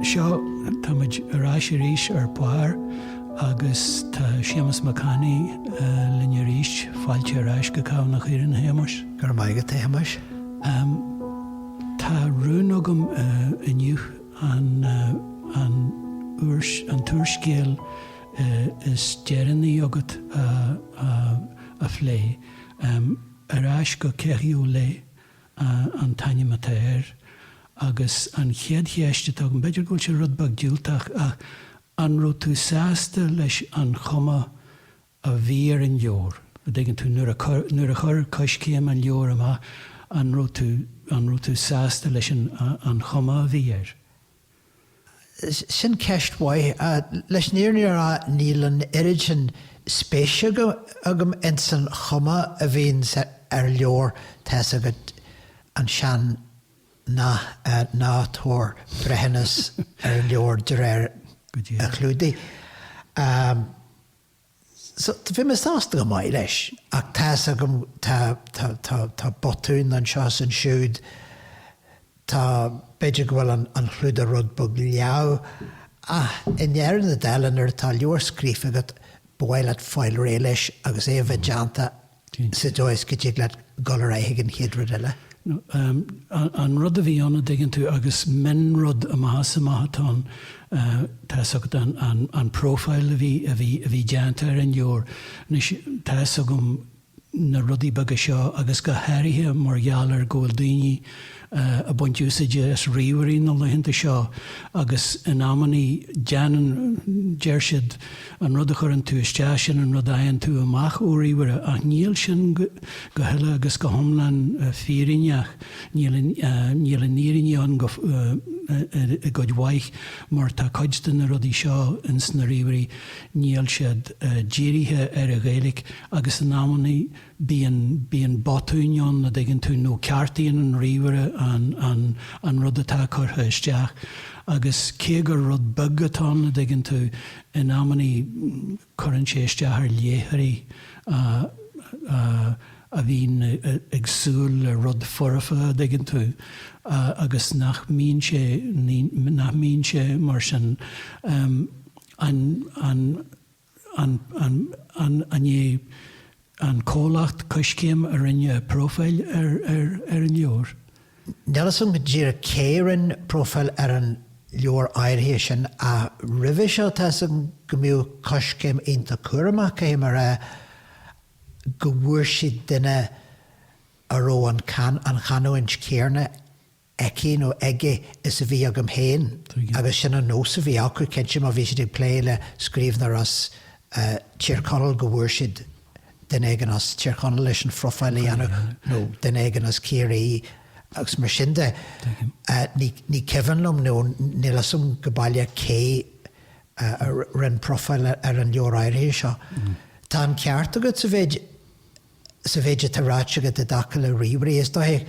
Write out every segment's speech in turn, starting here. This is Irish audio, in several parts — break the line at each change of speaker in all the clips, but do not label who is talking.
Seo, tá muid ar ais arís ar Barr agus tá Séamus Mac Annaidh linn arís. Fáilte ar ais go Cabhán na hÉireann, a Shéamais. Go raibh maith agat, a Shéamais.
Tá
rún agam inniu. an an an t-úrscéal is deireanaí agat a a phlé. Ar ais go Keriolet an t-ainm atá air. Agus an chéad cheist atá agam, b'fhéidir go bhfuil sé rud beag diúltach, ach an raibh tú sásta leis an chuma a bhí ar an leabhar. An dtuigeann tú, nuair a, nuair a chuir Coiscéim an leabhar amach, an raibh tú, an raibh tú sásta leis an, an chuma a bhí air? Sin
ceist mhaith. Leis an fhírinne a rá, níl an oiread sin spéise agam, agam ins an chuma a bhíonn sa, ar leabhar, tá's agat, an sean-nath, ná tabhair breithiúnas ar an leabhar de réir a chlúdaigh. So, bhí mé sásta go maith leis. Ach tá's agam, tá, tá, tá, tá botúin anseo is ansiúd, tá, b'fhéidir go bhfuil an, an chlúdach rud beag leamh, ach i ndeireadh na dála nuair atá leabhar scríofa agat, ba mhaith leat fáil réidh leis agus é a bheith déanta sa dóigh go dtig leat dul ar aghaidh ag an chéad rud
eile. An rud a bhí ann, a' dtuigeann tú, agus mionrud amach is amach atá ann, tá's agat an profile a bhí, a bhí, a bhí déanta ar an leabhar. Anois, tá's agam na rudaí beaga seo agus go háirithe mar gheall ar go bhfuil daoine, ag baint úsáide as ríomhairí na laethanta seo agus in amannaí déanann, deir siad, an rud a chuireann tú isteach, sin an rud a fhaigheann tú amach ó ríomhaire, ach níl sin go huile agus go hiomlán fírinneach, níl an fhírinne ann go, i gcuid mhaith, mar tá cuid de na rudaí seo ins na ríomhairí, níl siad dírithe ar an Ghaeilge agus in amannaí, bíonn, bíonn botúin ann, a' dtuigeann tú, nó ceartaíonn an ríomhaire an, an, an rud atá curtha isteach agus cé gur rud beag atá ann, a' dtuigeann tú, in amannaí cuireann sé isteach ar léitheoirí a, a, a bhíonn ag súil le rud foirfe, a' dtuigeann tú, a, agus nach mbíonn sé, ní, nach mbíonn sé mar sin. An, an. an, an, an, an é an comhlacht Coiscéim a rinne profáil ar, ar, ar an leabhar? Níl 's agam
go díreach cé a rinne profáil ar an leabhar áirithe sin ach roimhe seo tá 's agam go mbíodh Coiscéim iontach cúramach, caithfidh mé a rá, go bhfuair siad duine a raibh an, an chanúint chéanna, aici nó aige is a bhí agam féin agus sin an nós a bhí acu, cinnte, má bhí siad ag plé le scríbhneoir as Tír Chonaill go bhfuair siad duine éigin as Tír Chonaill leis an phrofáil a dhéanamh nó duine éigin as Ciarraí agus mar sin de. Ní cuimhin liom nó níl 'fhios a'm go baileach cé a rinne profáil ar an leabhar áirithe seo. Tá an ceart agat sa mhéid sa mhéid atá ráite agat i dtaca le ríomhairí, is dóiche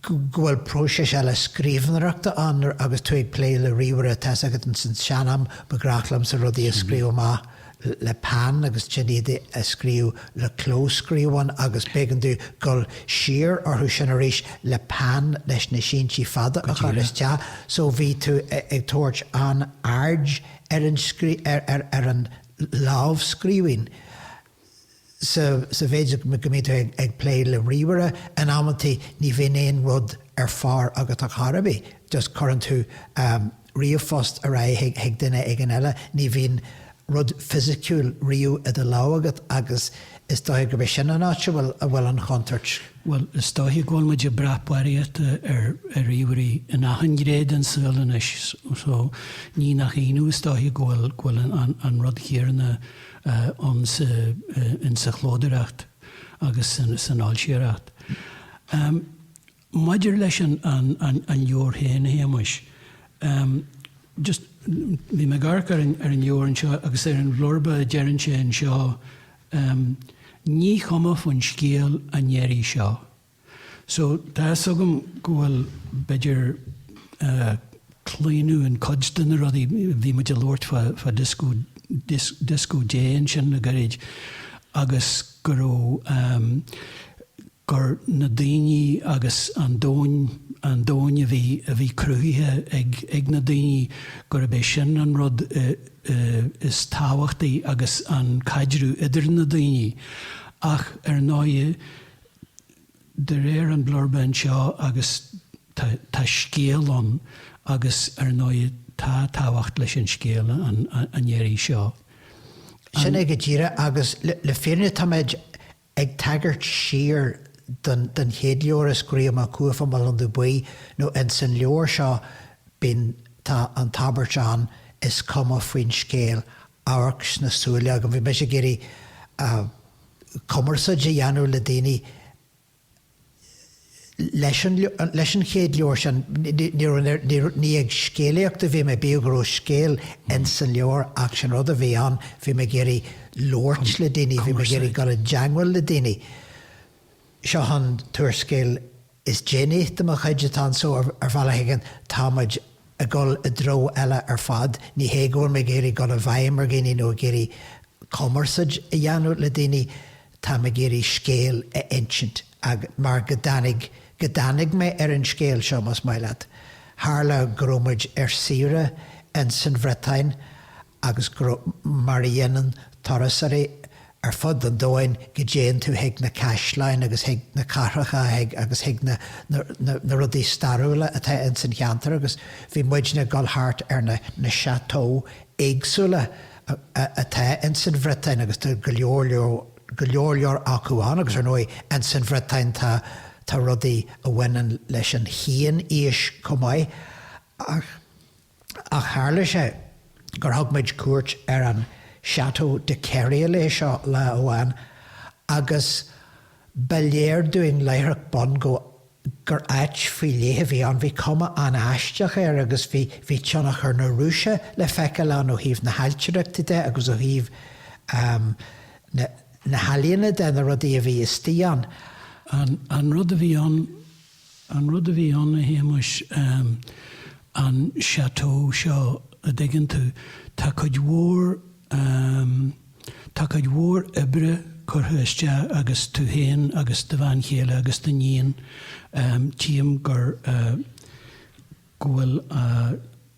go bhfuil próiseas eile scríobhnóireachta ann agus tú ag plé le ríomhaire, tá's agat. Ins an sean-am ba ghnách liomsa rudaí a scríobh amach le peann agus ansin iad a scríobh le clóscríobhán agus b'éigean duit dul siar orthu sin arís le peann leis na síntí fada a chur isteach so bhí tú ag tabhairt an-aird ar an lámhscríbhinn. sa mhéid go mbíonn tú ag plé le ríomhaire, in amantaí ní bhíonn aon rud ar phár agat ar chor ar bith, just cuireann tú ríomhphost ar aghaidh chuig duine éigin eile, ní bhíonn rud fisiciúil riamh i do lámh agat agus is dócha gurb é sin an áit a bhfuil an chontúirt. Bhuel, is
dócha go bhfuil muid ag brath barraíochta ar ríomhairí in achan ghné den saol anois, so ní nach ionadh is dócha go bhfuil an rud céanna ann sa chlódóireacht agus san fhoilsitheoireacht. Maidir leis an leabhar féin, a Shéamuis, just, bhí mé ag amharc ar an leabhar anseo agus ar an bhlurba a deireann sé anseo, 'Ní cuma faoin scéal an iarraidh seo, So, tá's agam go bhfuil, b'fhéidir, claonadh in cuid de na rudaí, bhí muid a labhairt fá disco, Disco Dé ansin le gairid agus go raibh, gur na daoine agus an domhain, an domhain a bhí, a bhí cruthaithe ag, ag na daoine, gurb é sin an rud is tábhachtaí agus an caidreamh idir na daoine ach ar ndóighe, de réir an blurb anseo agus tá, tá scéal ann agus ar ndóigh tá tábhacht leis an scéal an iarraidh seo. Sin é
go díreach agus le fírinne táimid ag tagairt siar don chéad leabhar a scríobh mé, Cuaifeach Mo Londubh Buí, nó ins an leabhar seo bíonn, tá an abairt ann, is cuma faoin scéal, amharc sna súile agam. Bhí mise ag iarraidh. cumarsáid a dhéanamh le daoine leis an chéad leabhar sin. Ní ag scéalaíocht a bhí mé, bíodh go raibh scéal ins an leabhar ach sin an rud a bhí ann, bhí mé ag iarraidh labhairt le daoine, bhí mé ag iarraidh dul i dteangmháil le daoine. Seo, an t-úrscéal. Is déanaí de mo chuid atá anseo, ar bhealach éigin, tá muid ag dul i dtreo eile ar fad, ní hé go bhfuil mé ag iarraidh dul i bhfeidhm ar dhaoine nó ag iarraidh cumarsáid a dhéanamh le daoine, tá mé ag iarraidh scéal a insint, agus mar go dtáinig, go dtáinig mé ar an scéal seo, más maith leat. Tharla go raibh muid ar saoire insan Bhriotáin agus go raibh mar a dhéanann turasóirí ar fud an domhain go dtéann tú chuig na caisleáin agus chuig na cathracha agus chuig na rudaí stairiúla atá ins an cheantar agus bhí muidne ag dul thart ar na chateaux éagsúla atá ins an Bhriotáin agus tá go leor leor, go leor leor acu ann agus ar ndóigh ins an Bhriotáin tá, tá rudaí a bhaineann leis an chianaois chomh maith ach. ach tharla sé gur thug muid cuairt ar an Château de Keriolet seo lá amháin agus ba léir dúinn láithreach bonn go gur áit faoi leith a bhí ann. Bhí cuma an-aisteach air agus bhí tionchar na Rúise le feiceáil ann ó thaobh na hailtireachta de agus ó thaobh na healaíona de, na rudaí a bhí istigh ann. An
rud a bhí ann An rud a bhí ann, a Shéamuis, an chateau seo, a' dtuigeann tú, tá cuid mhór, tá cuid mhór oibre curtha isteach agat, tú fhéin agus do bhean chéile agus do níon, tchím gur, go bhfuil a.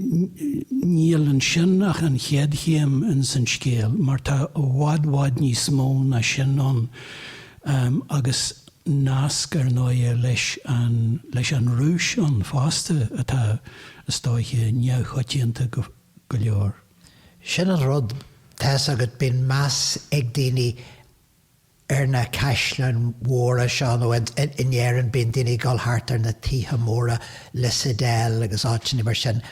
Níl ansin ach an chéad chéim ins an scéal, mar tá i bhfad bhfad níos mó ná sin ann, agus nasc, ar ndóighe, leis an Rúis ann fosta atá, is dóiche, neamhchoitianta go leor. Sin an
rud, tá's agat, bíonn meas ag daoine ar na caisleáin mhóra seo, nó in Éirinn bíonn daoine ag dul thart ar na tithe móra, Lissadell agus áiteanna mar sin,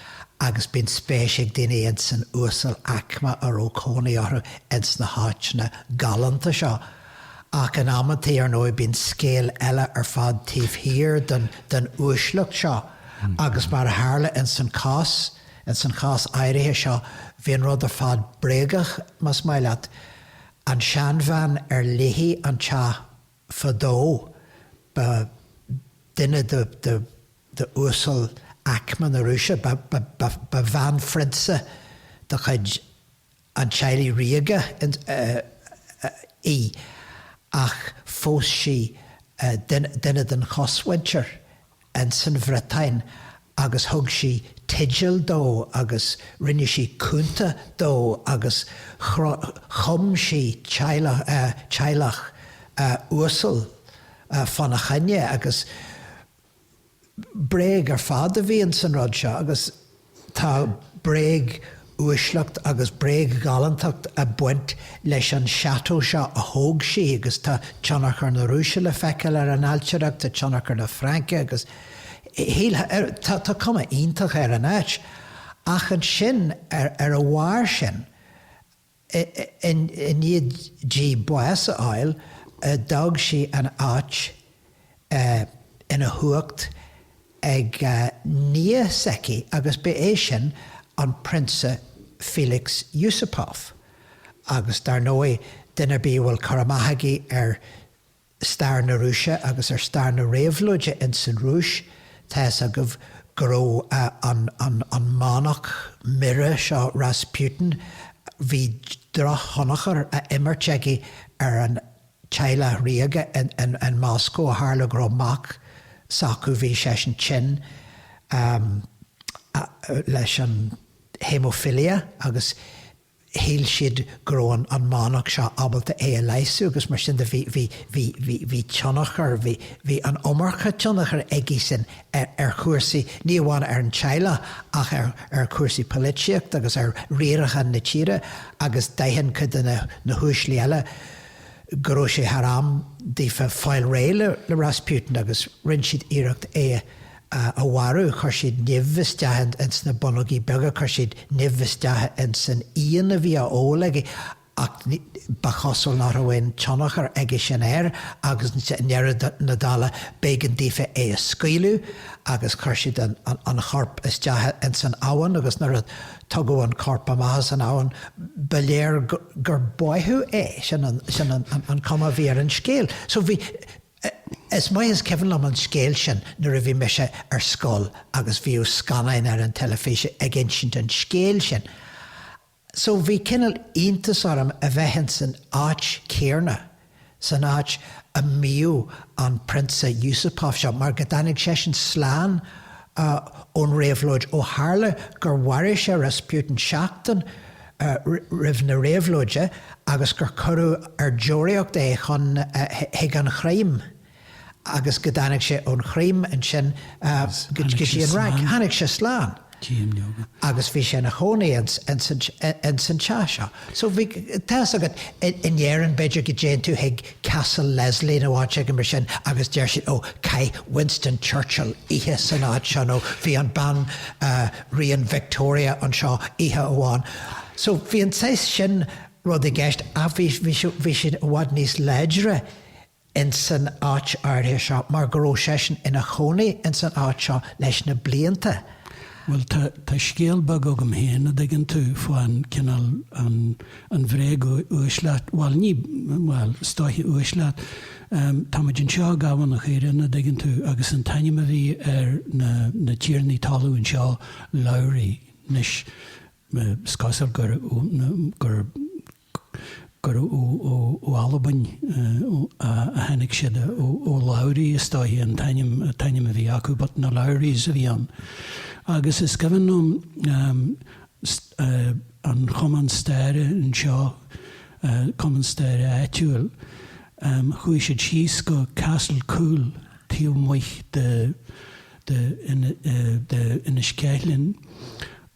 agus bíonn spéis ag daoine ins an uasal-aicme a raibh cónaí orthu ins na háiteanna galánta seo. Ach in amanntaí, ar ndóigh, bíonn scéal eile ar fad taobh thiar den uaisleacht seo, agus mar a tharla ins an cás, ins an chás áirithe seo, bhí an rud ar fad bréagach, más maith leat. An seanbhean ar léithi an teach fadó ba duine de uasalaicme na Rúise, ba bhanphrionsa de chuid an teaghlaigh ríoga í, ach phós sí duine den chosmhuintir ins an Bhriotáin agus thug sí teideal dó agus rinne sí cunta dó agus chum sí teaghlach uasal fána choinne agus bréag ar fad a bhí ins an rud seo agus Tá bréag-uaisleacht agus bréag-ghalántacht ag baint leis an chateau seo a thóg sí agus tá tionchar na Rúise le feiceáil ar an ailtireacht, tá tionchar na Fraince agus tá cuma iontach ar an áit. Ach ansin, ar a bharr sin, I ndiaidh di bás a fháil, d'fhág sí an áit ina huacht ag nia s'aici agus ba é sin an Prionsa Felix Yusupov, agus dar ndóigh, duine ar bith a bhfuil cur amach aige ar stair na Rúise agus ar stair na réabhlóide ins an Rúis, tá a fhios agaibh go raibh an manach mire seo, Rasputin, bhí drochthionchar á imirt aige ar an teaghlach ríoga in Moscó, ó tharla go raibh mac s'acu, bhí seisean tinn leis an haemophilia agus shíl siad go raibh an manach seo ábalta é a leigheasú agus mar sin de bhí, bhí, bhí, bhí, bhí tionchar, bhí, bhí an iomarca tionchair aigesean ar, ar chúrsaí, ní amháin ar an teaghlach ach ar, ar chúrsaí poilitíochta agus ar riarachán na tíre agus d'aithin cuid de na, na huaislí eile go raibh sé thar am daofa fáil réidh le, le Rasputin agus rinne siad iarracht é a. a mharú. Chuir siad nimh isteach ins na bonnógaí beaga, chuir siad nimh isteach ins an fhíon a bhí á ól aige ach ba chosúil nach raibh aon tionchar aige sin air agus i ndeireadh na dála b'éigean daofa é a scaoileadh agus chuir siad an chorp isteach ins an abhainn agus nuair a tugadh an corp amach as an abhainn ba léir gur báitheadh é. Sin an chuma a bhí ar an scéal. So bhí. Is maith is cuimhin liom an scéal sin nuair a bhí mise ar scoil agus bhíodh scannáin ar an teilifís ag insint an scéil sin so bhí cineál iontas orm a bheith ins an áit chéarna, san áit a mbíodh an Prionsa Yusupov seo mar go dtáinig seisean slán ón réabhlóid ó tharla gur mharaigh sé Rasputin seachtain roimh na réabhlóide agus gur cuireadh ar deoraíocht é chun, chuig an Chrimé agus go dtáinig sé ón Chrimé ansin go dtí an Fhrainc. Tháinig sé slán agus bhí sé ina chónaí ins an teach seo. So bhí, tá's agat, in Éirinn b'fhéidir go dtéann tú chuig, Castle Leslie nó áit éigin mar sin agus deir siad, ó, chaith Winston Churchill oíche san áit seo nó bhí an banríon Victoria anseo oíche amháin. So, bhí an saghas sin rud i gceist ach bhí, bhí sé, bhí sé i bhfad níos láidre ins an áit áirithe seo mar go raibh seisean ina chónaí ins an áit seo leis na blianta. Bhuel,
tá, tá scéal beag agam féin, a' dtuigeann tú, fán cineál, an, an bhréag uaisleacht, bhuel, ní, bhuel, is dóiche uaisleacht, ehm, tá muid anseo i gCabhán an Chaorthainn, a' dtuigeann tú, agus an t-ainm a bhí ar na, na tiarnaí talún anseo, Lowry, 'nois, eh, 's cosúil gur, gur, gurbh ó Albain a tháinig siad, Ó Labhraí is dóiche an t-ainm a bhí acu but na Lowries a bhí ann agus is cuimhin liom an chumann staire anseo, cumann staire áitiúil, chuaigh siad síos go Castle Coole taobh amuigh de Inis Ceithleann,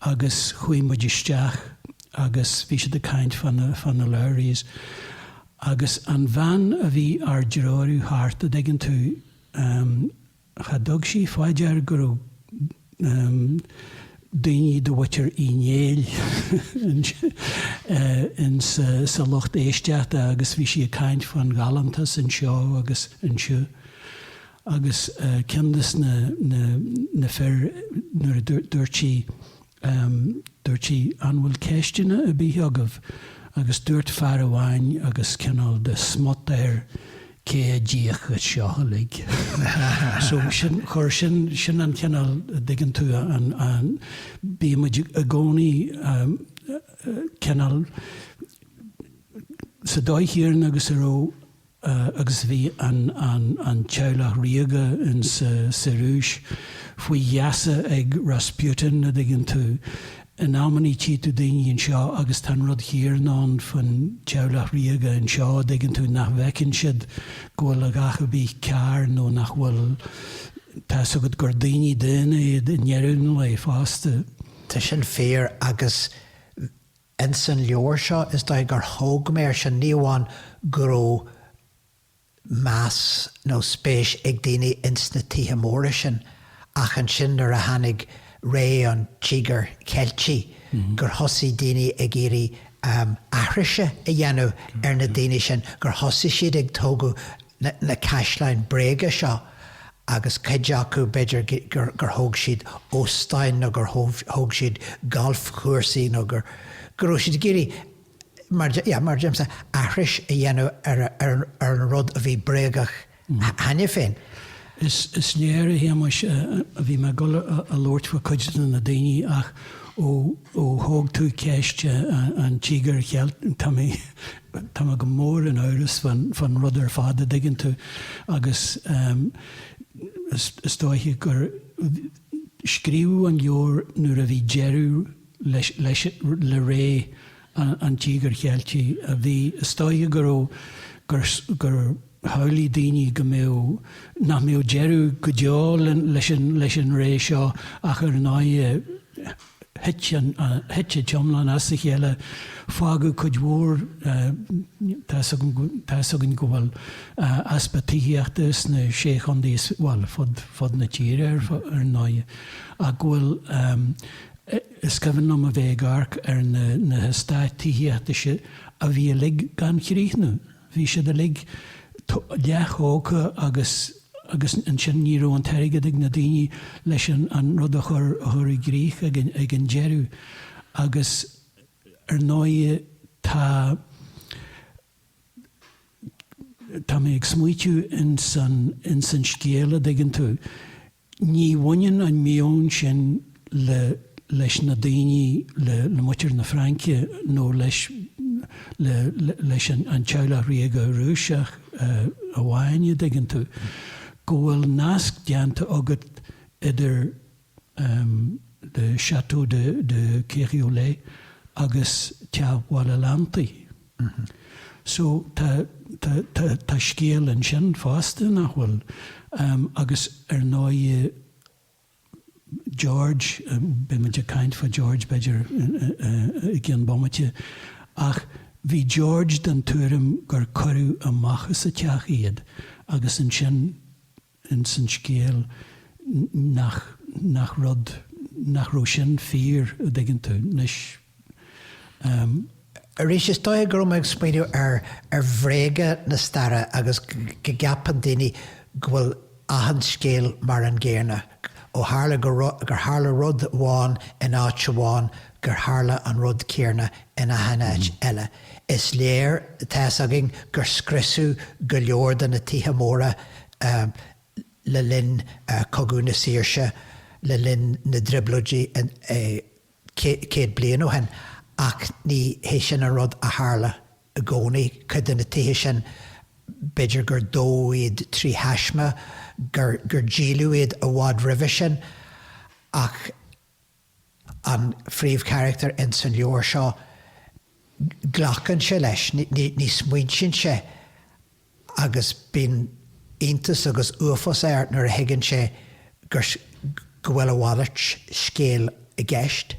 agus chuaigh muid isteach agus bhí siad ag caint fá na, fá na Lowries agus an bhean a bhí ár dtreorú thart, a' dtuigeann tú, ehm, cha dtug sí fá dear go raibh, ehm, daoiní de mhuintir Uí Néill ins sa lucht éisteachta agus bhí sí ag caint fán ghalántas anseo agus ansiúd agus ceann de na, na, na fir, nuair a dúirt sí, dúirt sí 'an bhfuil ceisteanna ar bith agaibh? agus dúirt fear amháin agus cineál de smut air 'cé a d'íoc as seo uilig? so sin, chuir sin, sin an cineál, a' dtuigeann tú, an, an, bíonn muid i gcónaí cineál, an dtuigeann tú agus a raibh, agus bhí an teaghlach ríoga ins sa Rúis faoi gheasa ag Rasputin, a dtuigeann tú. In amannaí tchí tú daoine anseo agus tá an rud céanna faoin teaghlach ríoga anseo, a dtuigeann tú, nach bhfeiceann siad go bhfuil a dhath ar bith cearr nó nach bhfuil, tá fhios agat gur daoine daonna iad i ndeireadh an lae fosta. Tá sin
fíor agus Ins an leabhar seo, is dóigh gur thóg mé ar sin, ní amháin go raibh meas nó spéis ag daoine ins na tithe móra sin, ach ansin nuair a tháinig ré an Tíogair Cheiltigh, gur thosaigh daoine ag iarraidh aithrise a dhéanamh ar na daoine sin, gur thosaigh siad ag tógadh na caisleáin bréige seo agus cuid acu, b'fhéidir, gur thóg siad óstáin nó gur thóg siad galfchúrsaí nó go raibh siad ag iarraidh, mar, mar a deirimse, aithris a dhéanamh ar an rud a bhí bréagach cheana féin.
Is léir, a Shéamais, bhí mé ag dul a labhairt faoi chuid de na daoine ach ó thóg tú ceist an Tíogair Cheiltigh, tá mé. Tá mé go mór in amhras fán rud ar fad, a' dtuigeann tú, agus is dóiche gur scríobhadh an leabhar nuair a bhí deireadh leis, le ré an Tíogair Cheiltigh a bhí, is dóiche go raibh, gur, Shamhlaigh daoine go mbeadh, nach mbeadh deireadh go deo leis an ré seo ach ar ndóighe thit an t-iomlán as a chéile, fágadh cuid mhór, tá's againn go bhfuil easpa tithíochta sna Sé Chondae is, bhuel, fud na tíre ar ndóighe, ach go bhfuil, is cuimhin liom a bheith ag amharc ar na heastáit tithíochta seo a bhí uilig gan chríochnú. Bhí siad uilig leath-thógtha agus agus ansin ní raibh an t-airgead ag na daoine leis an an rud a chur a chur i gcrích ag an ag an deireadh agus ar ndóigh tá tá mé ag smaoitiú ins an ins an scéal a dtuigeann tú, Ní bhaineann an meon sin le leis na daoine, le muintir na Fraince nó leis le leis an an teaghlach ríoga Rúiseach amháin a dtuigeann tú go bhfuil nasc déanta agat idir le Château de de Keriolet agus Teach Bhaile Leantaigh. So tá, tá, tá, tá scéal ansin fosta, nach bhfuil? Agus ar ndóigh, George, beidh muid ag caint faoi George, b'fhéidir, i gcionn bomaite, ach bhí George den tuairim gur cuireadh amach as a teach iad agus ansin ins an scéal nach nach rud nach raibh sin fíor a dtuigeann tú anois. Ehm.
Arís, is dóiche go raibh mé ag smaointiú ar ar bhréaga na staire agus go gceapann daoine go bhfuil achan scéal mar an gcéarna, ó tharla go gur tharla rud amháin in áit amháin gur tharla an rud céarna in achan áit eile. Is léir, tá fhios againn gur scriosadh go leor de na tithe móra le linn Cogadh na Saoirse, le linn na dTrioblóidí céad bliain ó shin, ach ní hé sin an rud a tharla i gcónaí. Cuid de na tithe sin, b'fhéidir gur dódh iad trí thaisme, gur díoladh iad i bhfad roimhe sin, ach, an phríomhcharachtar ins an leabhar seo, glacann sé leis, ní smaointíonn sé agus bíonn iontas agus uafás air nuair a thuigeann sé gur, go bhfuil a mhalairt scéil i gceist.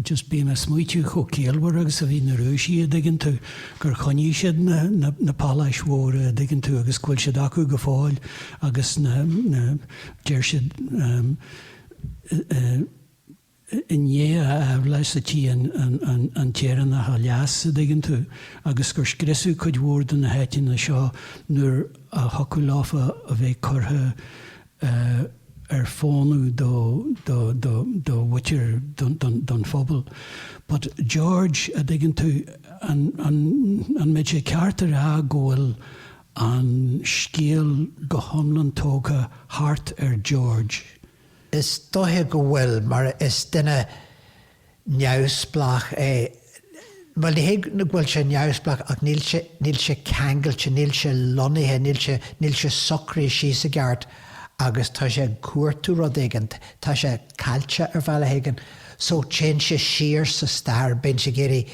Just bím a' smaoitiú chomh ciallmhar agus a bhí na Rúisigh a' dtuigeann tú, gur choinnigh siad na, na, na páláis mhóra a' dtuigeann tú agus go bhfuil siad acu go fóill agus na, na, deir siad, i ndiaidh a aimhleasa a tí an tÉireannach a leas, a' dtuigeann tú, agus gur scriosadh cuid mhór de na háiteanna seo nuair a thiocfadh leofa a bheith curtha ar fónamh do, do, do, do mhuitir, don, don phobal. But George, a' dtuigeann tú, an, an, an mbeadh sé ceart a rá go bhfuil, an scéal go hiomlán tógtha thart ar George. Is
dóiche go bhfuil, mar is duine neamhspleách é, bhuel, ní hé go bhfuil sé neamhspleách ach níl sé, níl sé ceangailte, níl sé lonnaithe, níl sé, níl sé socraithe síos i gceart agus tá sé ag cuartú rud éigin, tá sé caillte ar bhealach éigin. So téann sé siar sa stair, bíonn sé ag iarraidh,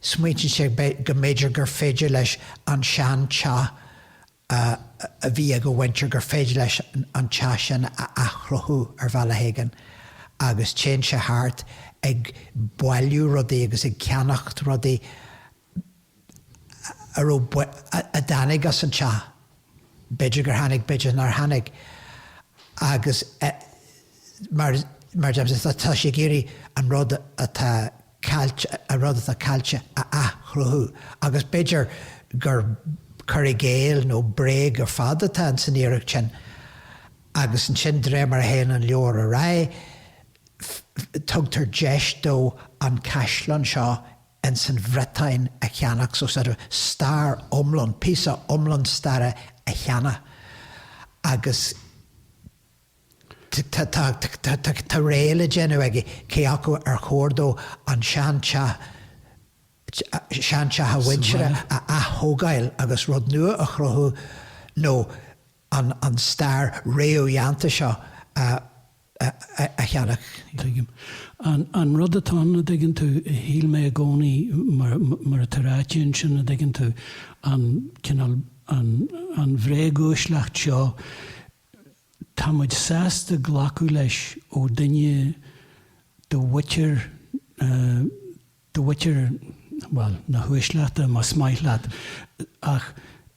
Smaointíonn sé go mb'fhéidir gur féidir leis an sean teach a bhí ag a mhuintir, gur féidir leis an teach sin a athchruthú ar bhealach éigin agus téann sé thart ag bailiú rudaí agus ag ceannacht rudaí a raibh, a dtáinig as an teach. B'fhéidir gur tháinig, b'fhéidir nár tháinig agus mar a deirim, tá sé ag iarraidh an rud atá caillte, an rud atá caillte a athchruthú agus b'fhéidir gur cur i gcéill nó bréag ar fad atá insan iarracht sin agus ansin de réir mar a théann an leabhar ar aghaidh tugtar deis dó an caisleán seo ins an Bhreatain a cheannach, so sort of stair iomlán, píosa iomlán staire a cheannach agus tá rogha le déanamh aige cé acu ar chóir dó an sean teach, sean teach a mhuintire a atógáil agus rud nua a chruthú nó an stair réamhdhéanta seo a cheannach.
Tuigim. An rud atá ann, a' dtuigeann tú, shíl mé i gcónaí, mar, mar atá ráite ansin, a' dtuigeann tú, an cineál, an, an bhréaguaisleacht seo, tá muid sásta glacadh leis ó dhuine de mhuintir na, de mhuintir, bhuel, na huaisleachta, más maith leat, ach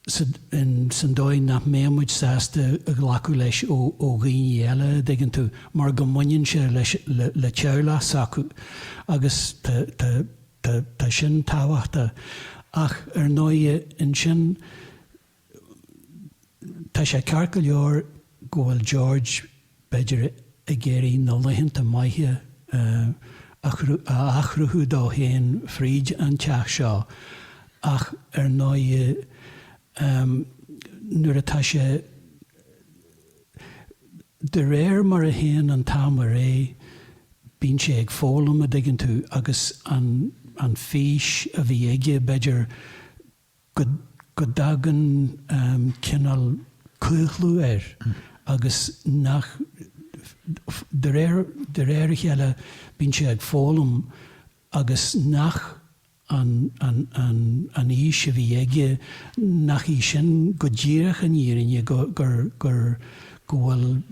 san dóigh nach mbeadh muid sásta glacadh leis ó dhaoine eile, a dtuigeann tú, mar go mbaineann sé le teaghlach s'acu agus tá sin tábhachtach. Ach ar ndóighe, ansin, Tá sé ceart go leor go bhfuil George, b'fhéidir, ag iarraidh na laethanta maithe a athchruthú dó féin fríd an teach seo ach ar ndóigh nuair atá sé, de réir mar a théann an t-am ar aghaidh, bíonn sé ag foghlaim, a dtuigeann tú, agus an fhís a bhí aige, b'fhéidir, go, go dtagann cineál claochlú air agus nach, de réir, de réir a chéile bíonn sé ag foghlaim agus nach an, an, an, an fhís a bhí aige, nach í sin go díreach an fhírinne, go, gur, gur, go bhfuil,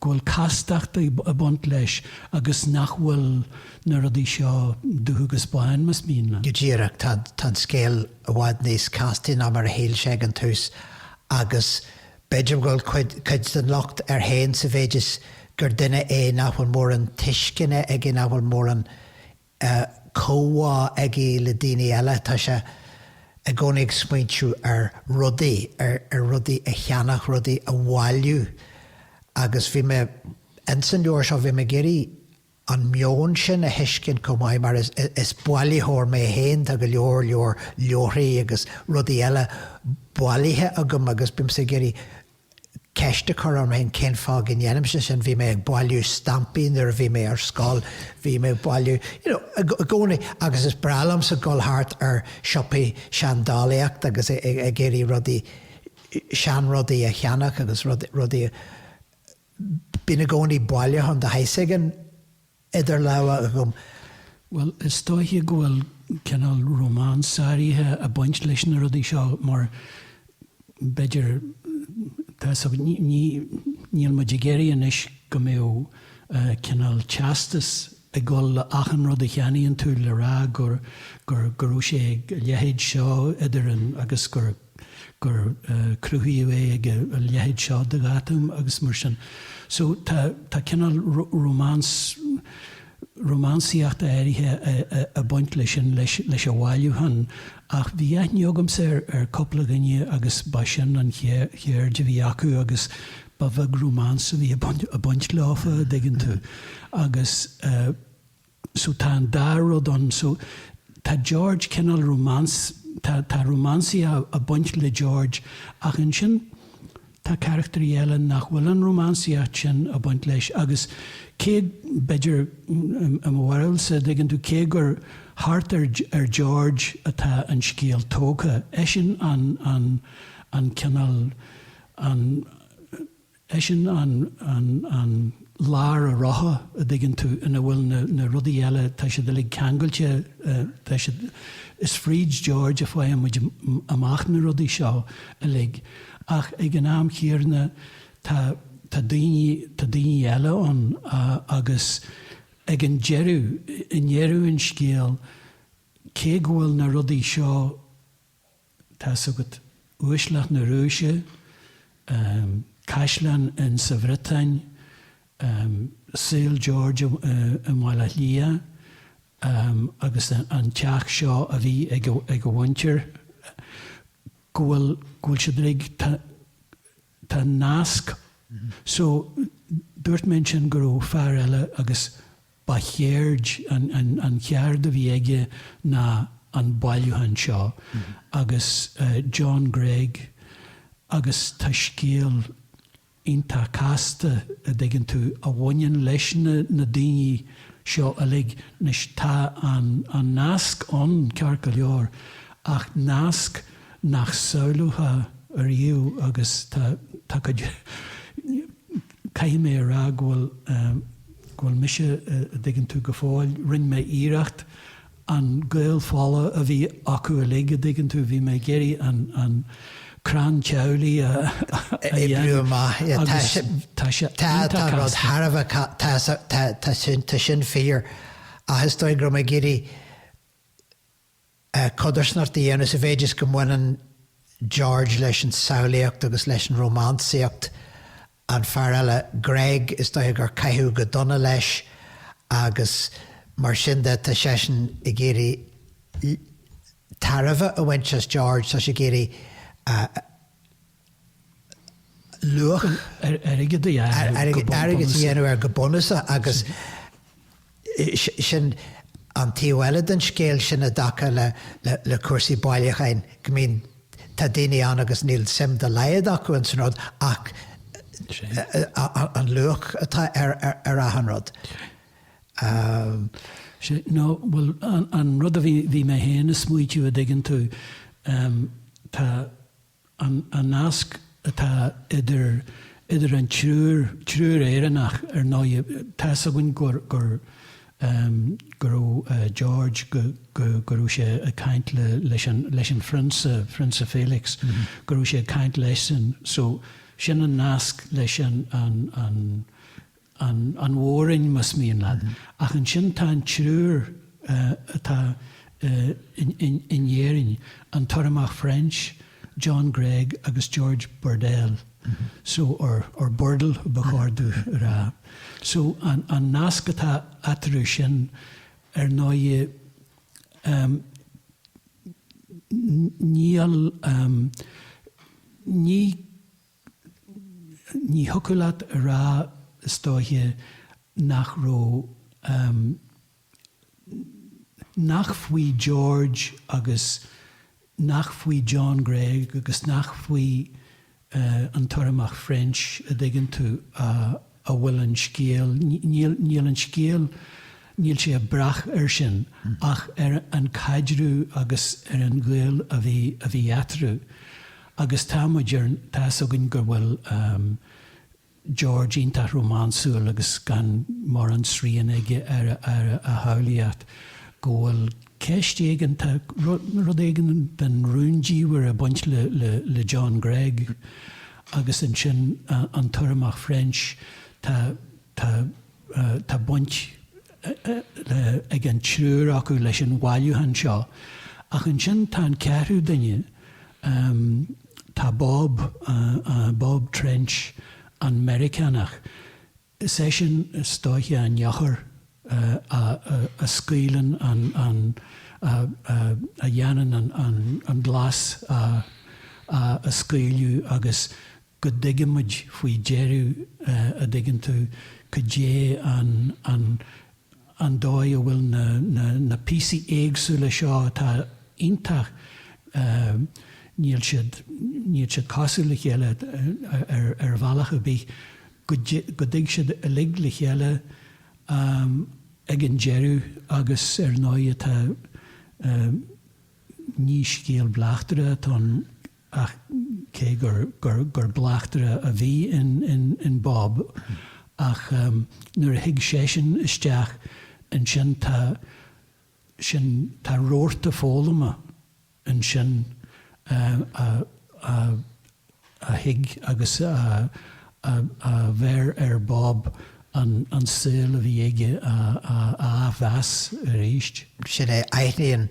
go bhfuil castacht ag baint leis agus nach bhfuil na rudaí seo dubh agus bán, más mian leat. Go díreach. Tá
an scéal i bhfad níos castaí ná mar a shíl sé ag an tús agus b'fhéidir go bhfuil cuid den locht air féin sa mhéid is gur duine é nach bhfuil mórán tuisceana aige, nach bhfuil mórán comhbhá aige le daoine eile, tá sé i gcónaí ag smaointiú ar rudaí, ar rudaí a cheannach, rudaí a bhailiú agus bhí mé, ins an leabhar seo, bhí mé ag iarraidh an meon sin a thuiscint chomh maith mar is bailitheoir mé féin, tá go leor leor leabharthaí agus rudaí eile bailithe agam agus bímse ag iarraidh, ceist a chur orm féin cén fáth go ndéanaimse sin, bhí mé ag bailiú stampaí nuair a bhí mé ar scoil, bhí mé ag bailiú, you know, i gcónaí, agus is breá liomsa dul thart ar siopaí seandálaíochta agus ag iarraidh rudaí, seanrudaí a cheannach agus rudaí, bíonn i gcónaí bailiúchán de shaghas éigin. idir lámha agam. Bhuel,
is dóiche go bhfuil cineál rómáns áirithe a' baint leis na rudaí seo mar b'fhéidir, tá 'fhios a'd, ní, níl muid ag iarraidh anois go mbeadh cineál teastas ag gabháil le achan rud a cheannaíonn tú le rá gur, gur, go raibh sé ag a leithéid seo idir an, agus gur. gur cruthaíodh é ag an leithéid seo de dháta agus mar sin. So tá tá cineál rómáns, rómánsaíocht áirithe ag baint leis sin, leis leis an bhailiúchán ach bhí aithne agamsa ar ar chúpla dhuine agus ba sin an cheird a bhí acu agus ba bheag rómáns a bhí ag baint leofa, a dtuigeann tú. Agus eh. so tá an dá rud ann. So tá George cineál rómáns, tá, tá rómánsaíocht a' baint le George ach ansin tá carachtairí eile nach bhfuil an rómánsaíocht sin a' baint leis agus cé, b'fhéidir, i mo bharúilse, a' dtuigeann tú, cé gur thart ar, ar George atá an scéal tógtha, eisean an, an, an cineál, an, Eisean an, an, an lár an rotha, a' dtuigeann tú, ina bhfuil na, na rudaí eile, tá siad uilig ceangailte, tá siad, is fríd George a fhaigheann muid amach na rudaí seo uilig ach ag an am chéanna tá, tá daoiní, tá daoiní eile ann agus ag an deireadh, i ndeireadh an scéil, cé go bhfuil na rudaí seo. Tá a fhios agat uaisleacht na Rúise, caisleán ins an Bhriotáin, saol George i mBaile Átha Cliath agus an teach seo a bhí ag a mhuintir, go bhfuil siad uilig tá nasc. So, dúirt mé ansin go raibh fear eile agus ba cheird, an cheard a bhí aige ná an bailiúchán seo agus John Gregg agus tá scéal iontach casta, a' dtuigeann tú, a bhaineann leis na na daoine seo uilig. Anois, tá an an nasc ann, ceart go leor, ach nasc, nach samhlófá ariamh agus tá, tá cuid, caithfidh mé a rá go bhfuil, go bhfuil mise, a' dtuigeann tú, go fóill, rinn mé iarracht an gaol fola a bhí acu uilig, a' dtuigeann tú, bhí mé ag iarraidh an, an crann teaghlaigh a, a dhéanamh agus
tá sé iontach casta. Tá sin, tá sin fíor ach is dóigh go raibh mé ag iarraidh, codarsnacht a dhéanamh sa mhéid is go mbaineann George leis an tsamhlaíocht agus leis an rómánsaíocht, an fear eile, Gregg, is dóiche gur caitheadh go dona leis agus mar sin de tá seisean ag iarraidh tairbhe a bhaint as George, tá sé ag iarraidh a.
luach
airgid a dhéanamh air go bunúsach agus sin an taobh eile den scéal sin i dtaca le cúrsaí bailiúcháin go mbíonn, tá daoine ann agus níl suim dá laghad acu ins an rud ach an luach atá ar achan
rud. No, bhuel, an rud a bhí mé féin ag smaoitiú a' dtuigeann tú, tá, an nasc atá idir, idir an triúr, triúr Éireannach, ar ndóigh, tá's againn gur, gur, go raibh George, go, go, go raibh sé ag caint le, leis an, leis an phrionsa, Phrionsa Felix, go raibh sé ag caint leis-sean, so, sin an nasc leis an, an, an, an Mhoráiv, más mian leat, ach ansin tá an triúr atá in Éirinn, an tUrramach French, John Gregg agus George Burdell, so, or Burdle ba cheart dom a rá. So, an nasc atá eatarthu sin, ar ndóigh, níl, ní, Ní thiocfadh leat a rá, is dóiche, nach raibh, ahem, nach faoi George agus nach faoi John Gregg agus nach faoi an tUrramach French, a' dtuigeann tú, a. a bhfuil an scéal, níl, níl an scéal, níl sé ag brath air sin ach ar an caidreamh agus ar an ghaol a bhí, a bhí eatarthu agus tá 'fhios againn go bhfuil George iontach rómánsúil agus gan mórán srian aige ar a, ar a shamhlaíocht, go bhfuil ceist éigin, tá rud, rud éigin den rúndiamhair ag baint le, le, le John Gregg Agus ansin an tUrramach French, tá, tá, tá baint ag an triúr acu leis an bhailiúchán seo. Ach ansin tá an ceathrú duine, tá Bob, Bob Trench, an Meiriceánach. Is é sin is dóiche an eochair a scaoileann an, an, a dhéanann an, an glas a scaoileadh agus go dtuig muid faoi deireadh, a dtuigeann tú, cad é an, an, an dóigh a bhfuil na píosaí éagsúla seo atá iontach, níl siad, níl siad cosúil le chéile ar bhealach ar bith, go dtig siad uilig le chéile ag an deireadh agus ar ndóigh tá, ní scéal bleachtaire atá ann, ach cé gur bleachtaire a bhí in Bob, ach nuair a thig seisean isteach, ansin tá, sin, tá rabharta foghlama ansin a thig agus a bheir ar Bob an saol a bhí aige a athmheas arís. Sin é, aithníonn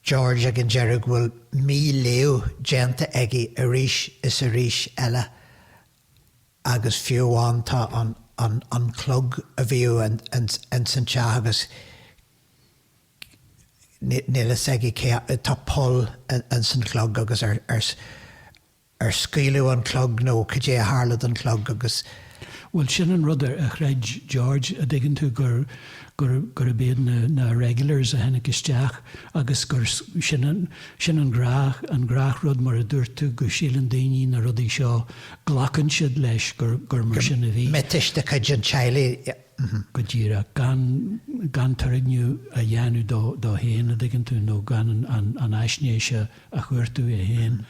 George ag an deireadh go bhfuil míléamh déanta aige arís is arís eile agus fiú amháin tá an an clog a bhíodh ins an teach agus níl a fhios aige tá poll ins an chlog agus ar Ar scaoileadh an clog nó cad é a tharla don chlog agus.
Bhuel, sin an rud a chreid George, a' dtuigeann tú, gur, gur, gurb iad na, na Irregulars a tháinig isteach agus gur, sin an, sin an gnáth, an gnáthrud mar a dúirt tú go síleann daoine na rudaí seo, glacann siad leis gur, gur mar sin a bhí. miotais de chuid an
teaghlaigh. go
díreach, gan, gan turgnamh a dhéanamh dó, dó fhéin, a' dtuigeann tú, nó gan an, an, an aisnéis a, a chuartú é fhéin,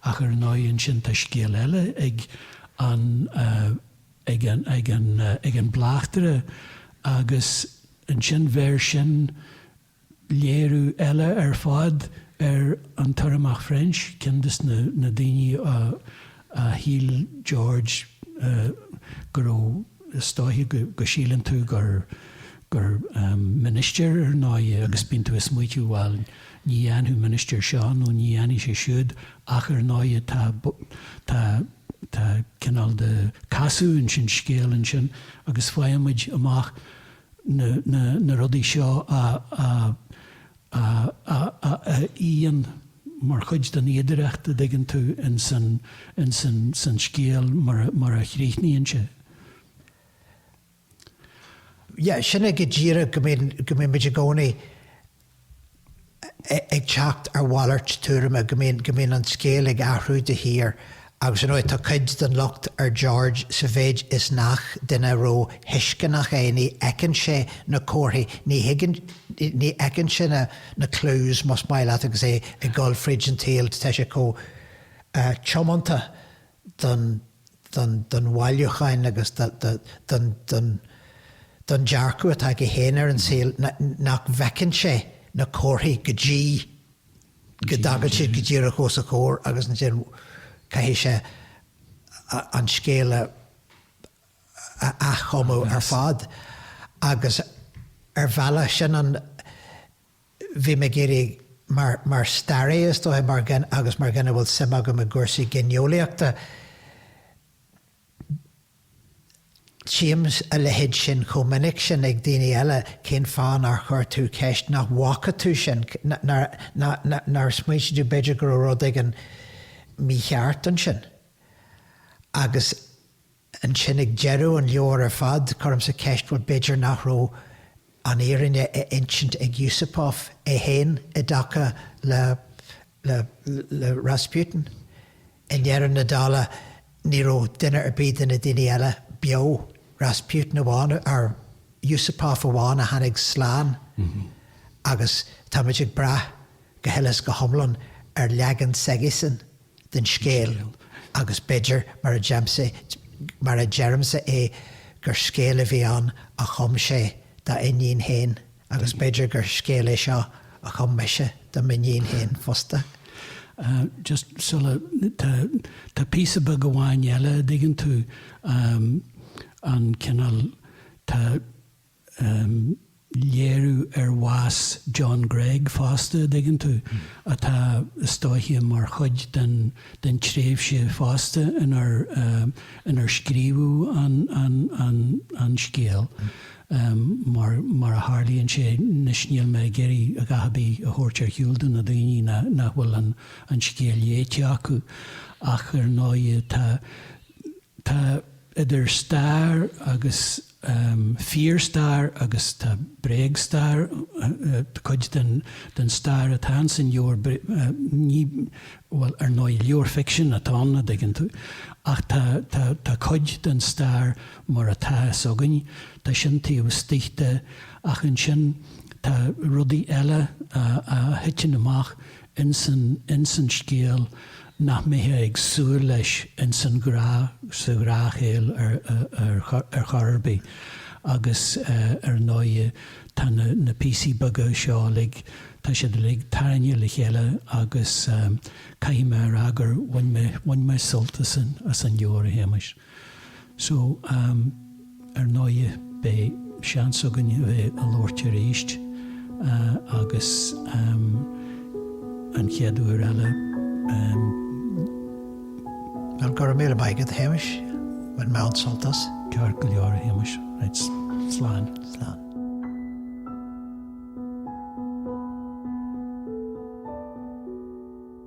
ach ar ndóigh ansin tá scéal eile ag an, ag an, ag an, ag an mbleachtaire agus ansin bheir sin, Léiriú eile ar fad ar an tUrramach French, ceann de na daoine a shíl George go raibh, is dóiche síleann tú gur ministir ar ndóigh é agus bíonn tú ag smaoitiú bhail ní dhéanfadh ministir seo nó ní dhéanfadh sé siúd ach ar ndóigh tá tá tá cineál de casadh insan scéal ansin agus faigheann muid amach na rudaí seo a fhíonn mar chuid den fhíodóireacht, an dtuigeann tú, ins an scéal mar a chríochnaíonn
sé. Yeah, sin é go díreach go mbíonn muid i gcónaí ag teacht ar mhalairt tuairime, go mbíonn, go mbíonn an scéal ag athrú de shíor agus, ar ndóigh, tá cuid den locht ar George sa mhéid is nach duine ró thuisceanach é, ní fheiceann sé na comharthaí, ní thuigeann, ní fheiceann sé na, na clues, más maith leat, agus é ag dul fríd an tsaol, tá sé chomh tiomanta don. don bhailiúchán agus don dearcadh atá aige féin ar an saol, nach bhfeiceann sé na comharthaí go dtí go dtagann siad go díreach os a chomhair agus ansin caithfidh sé an scéal a athchumadh ar fad agus ar bhealach sin an bhí mé ag iarraidh mar, mar staraí is dóiche, agus mar dhuine a bhfuil suim agam i gcúrsaí gineolaíochta, tchím a leithéid sin chomh minic sin ag daoine eile, cén fáth nár chuir tú ceist, nach bhfaca tú sin, nár, nár, nár smaoitigh tú b'fhéidir go raibh rud éigin mícheart ansin? Agus. Ansin ag deireadh an leabhair ar fad, cuirimse ceist, bhuel, b'fhéidir nach raibh an fhírinne á insint ag Yusupov é féin i dtaca le, le, le Rasputin? I ndeireadh na dála, ní raibh duine ar bith de na daoine eile beo, Rasputin amháin, or Yusupov amháin a tháinig slán agus tá muid ag brath go huile is go hiomlán ar leagan s'aigesan. den scéal, agus b'fhéidir, mar a deirimse é, gur scéal a bhí ann a chum sé dá iníon féin, agus b'fhéidir gur scéal é seo a chum mise do m'iníon féin fosta.
just sula, tá, tá píosa beag amháin eile, an dtuigeann tú, an cineál, tá. léiriú ar bhás John Gregg fosta, a' dtuigeann tú, atá i do thaithí mar chuid den, den tréimhse fosta inar, inar scríobhadh an, an, an, an scéal, mar, mar a tharlaíonn sé anois níl mé ag iarraidh a dhath a' bith a thabhairt ar shiúl do na daoiní nach, nach bhfuil an, an scéal léite acu ach ar ndóighe tá, tá idir stair agus. um fíorstair agus tá bréagstair, cuid den den stair atá ann san leabhar ní, bhuel ar ndóigh leabhar ficsin atá ann a' dtuigeann tú ach tá tá tá cuid den stair mar atá fhios againn tá sin taobh istigh de ach ansin tá rudaí eile a a thiteann amach insan, insan scéal nach mbeitheá ag súil leis insan ghrá, sa ghráscéal ar, ar, ar chor ar bith agus ar ndóighe tá na, na píosaí beaga seo uilig, tá siad uilig tarraingthe le chéile agus caithfidh mé a rá gur bhain mé, bhain mé sult as an, as an leabhar, a Shéamais. So, ar ndóighe, beidh seans againn a bheith a labhairt aríst agus an chéad uair eile. Bhuel,
go raibh míle maith agat, a Shéamais, bhain
mé
an-sult
as.
Ceart
go leor, a
Shéamais. Right,
slán. Slán.